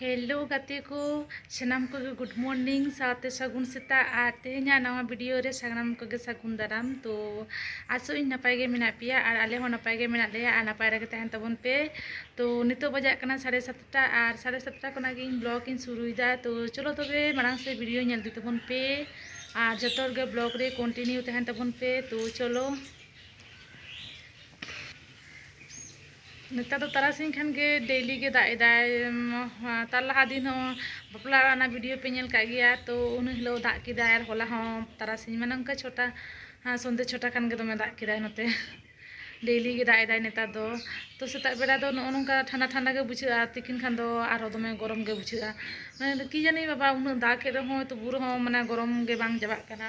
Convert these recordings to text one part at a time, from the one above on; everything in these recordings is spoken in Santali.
ᱦᱮᱞᱳ ᱜᱟᱛᱮ ᱠᱚ ᱥᱟᱱᱟᱢ ᱠᱚᱜᱮ ᱜᱩᱰ ᱢᱚᱨᱱᱤᱝ ᱥᱟᱶᱛᱮ ᱥᱟᱹᱜᱩᱱ ᱥᱮᱛᱟᱜ ᱟᱨ ᱛᱮᱦᱮᱧᱟᱜ ᱱᱟᱣᱟ ᱵᱷᱤᱰᱤᱭᱳ ᱨᱮ ᱥᱟᱱᱟᱢ ᱠᱚᱜᱮ ᱥᱟᱹᱜᱩᱱ ᱫᱟᱨᱟᱢ ᱛᱚ ᱟᱥᱚᱜ ᱤᱧ ᱱᱟᱯᱟᱭ ᱜᱮ ᱢᱮᱱᱟᱜ ᱯᱮᱭᱟ ᱟᱨ ᱟᱞᱮ ᱦᱚᱸ ᱱᱟᱯᱟᱭ ᱜᱮ ᱢᱮᱱᱟᱜ ᱞᱮᱭᱟ ᱟᱨ ᱱᱟᱯᱟᱭ ᱨᱮᱜᱮ ᱛᱟᱦᱮᱱ ᱛᱟᱵᱚᱱ ᱯᱮ ᱛᱚ ᱱᱤᱛᱚᱜ ᱵᱟᱡᱟᱜ ᱠᱟᱱᱟ ᱥᱟᱲᱮ ᱥᱟᱛᱴᱟ ᱟᱨ ᱥᱟᱲᱮ ᱥᱟᱛᱴᱟ ᱠᱷᱚᱱᱟᱜ ᱜᱮ ᱤᱧ ᱵᱞᱚᱜ ᱤᱧ ᱥᱩᱨᱩᱭᱮᱫᱟ ᱛᱚ ᱪᱚᱞᱚ ᱛᱚᱵᱮ ᱢᱟᱲᱟᱝ ᱥᱮ ᱵᱷᱤᱰᱤᱭᱳ ᱧᱮᱞ ᱤᱫᱤ ᱛᱟᱵᱚᱱ ᱯᱮ ᱟᱨ ᱡᱚᱛᱚ ᱦᱚᱲ ᱜᱮ ᱵᱞᱚᱜ ᱨᱮ ᱠᱚᱱᱴᱤᱱᱤᱭᱩ ᱛᱟᱦᱮᱱ ᱛᱟᱵᱚᱱ ᱯᱮ ᱛᱚ ᱪᱚᱞᱚ ᱱᱮᱛᱟᱨ ᱫᱚ ᱛᱟᱨᱟᱥᱤᱧ ᱠᱷᱟᱱ ᱜᱮ ᱰᱮᱭᱞᱤ ᱜᱮ ᱫᱟᱜ ᱮᱫᱟᱭ ᱛᱟᱨ ᱞᱟᱦᱟ ᱫᱤᱱ ᱦᱚᱸ ᱵᱟᱯᱞᱟ ᱚᱲᱟᱜ ᱨᱮᱱᱟᱜ ᱵᱷᱤᱰᱤᱭᱳ ᱯᱮ ᱧᱮᱞ ᱠᱟᱜ ᱜᱮᱭᱟ ᱛᱚ ᱩᱱ ᱦᱤᱞᱳᱜ ᱫᱟᱜ ᱠᱮᱫᱟᱭ ᱟᱨ ᱦᱚᱞᱟ ᱦᱚᱸ ᱛᱟᱨᱟᱥᱤᱧ ᱢᱟᱱᱮ ᱚᱱᱠᱟ ᱪᱷᱚᱴᱟ ᱥᱚᱱᱫᱷᱮ ᱪᱷᱚᱴᱟ ᱠᱷᱟᱱ ᱜᱮ ᱫᱚᱢᱮ ᱫᱟᱜ ᱠᱮᱫᱟᱭ ᱱᱚᱛᱮ ᱰᱮᱭᱞᱤ ᱜᱮ ᱫᱟᱜ ᱮᱫᱟᱭ ᱱᱮᱛᱟᱨ ᱫᱚ ᱛᱚ ᱥᱮᱛᱟᱜ ᱵᱮᱲᱟ ᱫᱚ ᱱᱚᱜᱼᱚ ᱱᱚᱝᱠᱟ ᱴᱷᱟᱱᱰᱟ ᱴᱷᱟᱱᱰᱟ ᱜᱮ ᱵᱩᱡᱷᱟᱹᱜᱼᱟ ᱛᱤᱠᱤᱱ ᱠᱷᱟᱱ ᱫᱚ ᱟᱨᱦᱚᱸ ᱫᱚᱢᱮ ᱜᱚᱨᱚᱢ ᱜᱮ ᱵᱩᱡᱷᱟᱹᱜᱼᱟ ᱢᱟᱱᱮ ᱠᱤ ᱡᱟᱹᱱᱤ ᱵᱟᱵᱟ ᱩᱱᱟᱹᱜ ᱫᱟᱜ ᱮᱜ ᱨᱮᱦᱚᱸᱭ ᱛᱚᱵᱩ ᱨᱮᱦᱚᱸ ᱢᱟᱱᱮ ᱜᱚᱨᱚᱢ ᱜᱮ ᱵᱟᱝ ᱪᱟᱵᱟᱜ ᱠᱟᱱᱟ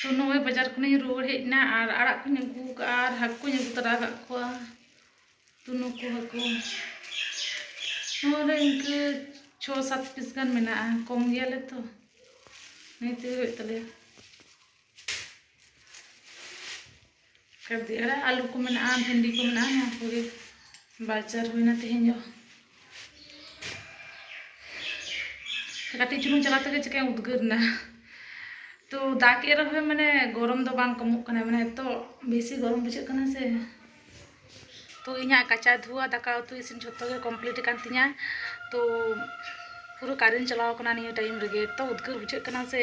ᱛᱚ ᱱᱚᱜᱼᱚᱭ ᱵᱟᱡᱟᱨ ᱠᱷᱚᱱᱤᱧ ᱨᱩᱣᱟᱹᱲ ᱦᱮᱡ ᱮᱱᱟ ᱟᱨ ᱟᱲᱟᱜ ᱠᱚᱧ ᱟᱹᱜᱩ ᱠᱟᱜᱼᱟ ᱟᱨ ᱦᱟᱹᱠᱩ ᱠᱚᱧ ᱟᱹᱜᱩ ᱛᱟᱨᱟ ᱠᱟᱜ ᱠᱚᱣᱟ ᱛᱚ ᱱᱩᱠᱩ ᱦᱟᱹᱠᱩ ᱱᱚᱣᱟᱨᱮ ᱤᱱᱠᱟᱹ ᱪᱷᱚ ᱥᱟᱛ ᱯᱤᱥ ᱜᱟᱱ ᱢᱮᱱᱟᱜᱼᱟ ᱠᱚᱢ ᱜᱮᱭᱟᱞᱮ ᱛᱚ ᱱᱤᱭᱟᱹ ᱛᱮᱜᱮ ᱦᱩᱭᱩᱜ ᱛᱟᱞᱮᱭᱟ ᱠᱟᱹᱨᱫᱤ ᱟᱲᱟᱜ ᱟᱹᱞᱩ ᱠᱚ ᱢᱮᱱᱟᱜᱼᱟ ᱵᱷᱮᱱᱰᱤ ᱠᱚ ᱢᱮᱱᱟᱜᱼᱟ ᱱᱚᱣᱟ ᱠᱚᱜᱮ ᱵᱟᱡᱟᱨ ᱦᱩᱭᱱᱟ ᱛᱮᱦᱮᱧ ᱫᱚ ᱠᱟᱹᱴᱤᱡ ᱪᱩᱞᱩᱝ ᱪᱟᱞᱟᱣ ᱛᱮᱜᱮ ᱪᱤᱠᱟᱹᱧ ᱩᱫᱽᱜᱟᱹᱨ ᱮᱱᱟ ᱛᱚ ᱫᱟᱜ ᱮᱫ ᱨᱮᱦᱚᱸ ᱢᱟᱱᱮ ᱜᱚᱨᱚᱢ ᱫᱚ ᱵᱟᱝ ᱠᱚᱢᱚᱜ ᱠᱟᱱᱟ ᱢᱟᱱᱮ ᱮᱛᱚ ᱵᱮᱥᱤ ᱜᱚᱨᱚᱢ ᱵᱩᱡᱷᱟᱹᱜ ᱠᱟᱱᱟ ᱥᱮ ᱛᱚ ᱤᱧᱟᱹᱜ ᱠᱟᱪᱟ ᱫᱷᱩᱣᱟ ᱫᱟᱠᱟ ᱩᱛᱩ ᱤᱥᱤᱱ ᱡᱷᱚᱛᱚ ᱜᱮ ᱠᱚᱢᱯᱞᱤᱴ ᱟᱠᱟᱱ ᱛᱤᱧᱟ ᱛᱚ ᱯᱩᱨᱟᱹ ᱠᱟᱨᱮᱱᱴ ᱪᱟᱞᱟᱣ ᱟᱠᱟᱱᱟ ᱱᱤᱭᱟᱹ ᱴᱟᱭᱤᱢ ᱨᱮᱜᱮ ᱮᱛᱚ ᱩᱫᱽᱜᱟᱹᱨ ᱵᱩᱡᱷᱟᱹᱜ ᱠᱟᱱᱟ ᱥᱮ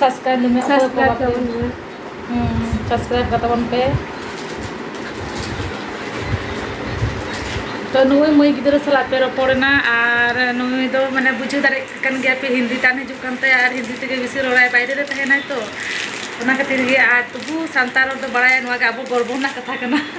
ᱥᱟᱥᱠᱨᱟᱭᱤᱵ ᱞᱤᱧ ᱢᱮ ᱚᱠᱚᱭ ᱠᱚ ᱥᱟᱵᱥᱠᱨᱟᱭᱤᱵ ᱵᱟᱯᱮ ᱛᱟᱵᱚᱱ ᱢᱮ ᱦᱩᱸ ᱥᱟᱥᱠᱨᱟᱭᱤᱵ ᱠᱟᱛᱟ ᱵᱚᱱ ᱯᱮ ᱛᱚ ᱱᱩᱭ ᱢᱟᱹᱭ ᱜᱤᱫᱽᱨᱟᱹ ᱥᱟᱞᱟᱜ ᱯᱮ ᱨᱚᱯᱚᱲ ᱮᱱᱟ ᱟᱨ ᱱᱩᱭ ᱫᱚ ᱢᱟᱱᱮ ᱵᱩᱡᱷᱟᱹᱣ ᱫᱟᱲᱮᱭᱟᱜ ᱠᱟᱱ ᱜᱮᱭᱟ ᱯᱮ ᱦᱤᱱᱫᱤ ᱛᱟᱱ ᱦᱤᱡᱩᱜ ᱠᱟᱱ ᱛᱟᱭᱟ ᱟᱨ ᱦᱤᱱᱫᱤ ᱛᱮᱜᱮ ᱵᱮᱥᱤ ᱨᱚᱲᱟᱭ ᱵᱟᱭᱨᱮ ᱨᱮ ᱛᱟᱦᱮᱱᱟᱭ ᱛᱚ ᱚᱱᱟ ᱠᱷᱟᱹᱛᱤᱨ ᱜᱮ ᱟᱨ ᱛᱚᱵᱩ ᱥᱟᱱᱛᱟᱲ ᱨᱚᱲ ᱫᱚ ᱵᱟᱲᱟᱭᱟ ᱱᱚᱣᱟ ᱜᱮ ᱟᱵᱚ ᱜᱚᱨᱵᱚ ᱨᱮᱱᱟᱜ ᱠᱟᱛᱷᱟ ᱠᱟᱱᱟ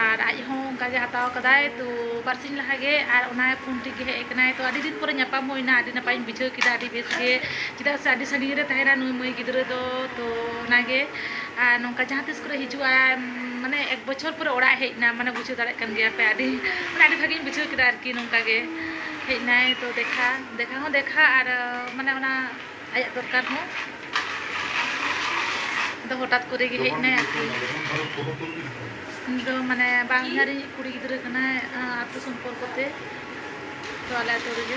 ᱟᱨ ᱟᱡ ᱦᱚᱸ ᱚᱱᱠᱟ ᱜᱮ ᱦᱟᱛᱟᱣ ᱠᱟᱫᱟᱭ ᱛᱚ ᱵᱟᱨᱥᱤᱧ ᱞᱟᱦᱟ ᱜᱮ ᱟᱨ ᱚᱱᱟ ᱯᱷᱳᱱ ᱴᱷᱤᱠ ᱜᱮ ᱦᱮᱡ ᱠᱟᱱᱟᱭ ᱛᱚ ᱟᱹᱰᱤ ᱫᱤᱱ ᱯᱚᱨᱮ ᱧᱟᱯᱟᱢ ᱦᱩᱭᱱᱟ ᱟᱹᱰᱤ ᱱᱟᱯᱟᱭᱤᱧ ᱵᱩᱡᱷᱟᱹᱣ ᱠᱮᱫᱟ ᱟᱹᱰᱤ ᱵᱮᱥ ᱜᱮ ᱪᱮᱫᱟᱜ ᱥᱮ ᱟᱹᱰᱤ ᱥᱟᱺᱜᱤᱧ ᱨᱮ ᱛᱟᱦᱮᱱᱟ ᱱᱩᱭ ᱢᱟᱹᱭ ᱜᱤᱫᱽᱨᱟᱹ ᱫᱚ ᱛᱚ ᱚᱱᱟ ᱜᱮ ᱟᱨ ᱱᱚᱝᱠᱟ ᱡᱟᱦᱟᱸ ᱛᱤᱥ ᱠᱚᱨᱮ ᱦᱤᱡᱩᱜ ᱟᱭ ᱢᱟᱱᱮ ᱮᱠ ᱵᱚᱪᱷᱚᱨ ᱯᱚᱨᱮ ᱚᱲᱟᱜ ᱦᱮᱡ ᱮᱱᱟ ᱢᱟᱱᱮ ᱵᱩᱡᱷᱟᱹᱣ ᱫᱟᱲᱮᱭᱟᱜ ᱠᱟᱱ ᱜᱮᱭᱟ ᱯᱮ ᱟᱹᱰᱤ ᱢᱟᱱᱮ ᱟᱹᱰᱤ ᱵᱷᱟᱹᱜᱤᱧ ᱵᱩᱡᱷᱟᱹᱣ ᱠᱮᱫᱟ ᱟᱨᱠᱤ ᱱᱚᱝᱠᱟ ᱜᱮ ᱦᱮᱡ ᱮᱱᱟᱭ ᱛᱚ ᱫᱮᱠᱷᱟ ᱫᱮᱠᱷᱟ ᱦᱚᱸ ᱫᱮᱠᱷᱟ ᱟᱨ ᱢᱟᱱᱮ ᱚᱱᱟ ᱟᱭᱟᱜ ᱫᱚᱨᱠᱟᱨ ᱦᱚᱸ ᱫᱚ ᱦᱚᱴᱟᱛ ᱠᱚᱨᱮ ᱜᱮ ᱦᱮᱡ ᱱᱟᱭ ᱟᱨᱠᱤ ᱫᱚ ᱢᱟᱱᱮ ᱵᱟᱝ ᱦᱟᱨᱤ ᱠᱩᱲᱤ ᱜᱤᱫᱽᱨᱟᱹ ᱠᱟᱱᱟᱭ ᱟᱛᱳ ᱥᱚᱢᱯᱚᱨᱠᱚ ᱛᱮ ᱛᱚ ᱟᱞᱮ ᱟᱛᱳ ᱨᱮᱜᱮ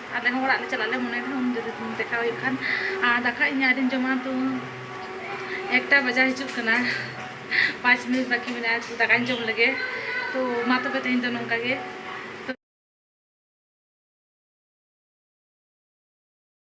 ᱟᱞᱮ ᱦᱚᱸ ᱚᱲᱟᱜ ᱞᱮ ᱪᱟᱞᱟᱜ ᱞᱮ ᱢᱚᱱᱮᱭ ᱫᱟ ᱩᱱ ᱡᱩᱫᱤ ᱫᱮᱠᱷᱟ ᱦᱩᱭᱩᱜ ᱠᱷᱟᱱ ᱟᱨ ᱫᱟᱠᱟ ᱤᱧ ᱟᱹᱣᱨᱤᱧ ᱡᱚᱢᱟ ᱛᱚ ᱮᱠᱴᱟ ᱵᱟᱡᱟᱣ ᱦᱤᱡᱩᱜ ᱠᱟᱱᱟ ᱯᱟᱸᱪ ᱢᱤᱱᱤᱴ ᱵᱟᱹᱠᱤ ᱢᱮᱱᱟᱜᱼᱟ ᱛᱚ ᱫᱟᱠᱟᱧ ᱡᱚᱢ ᱞᱮᱜᱮ ᱛᱚ ᱢᱟ ᱛᱚᱵᱮ ᱛᱮᱦᱮᱧ ᱫᱚ ᱱᱚᱝᱠᱟ ᱜᱮ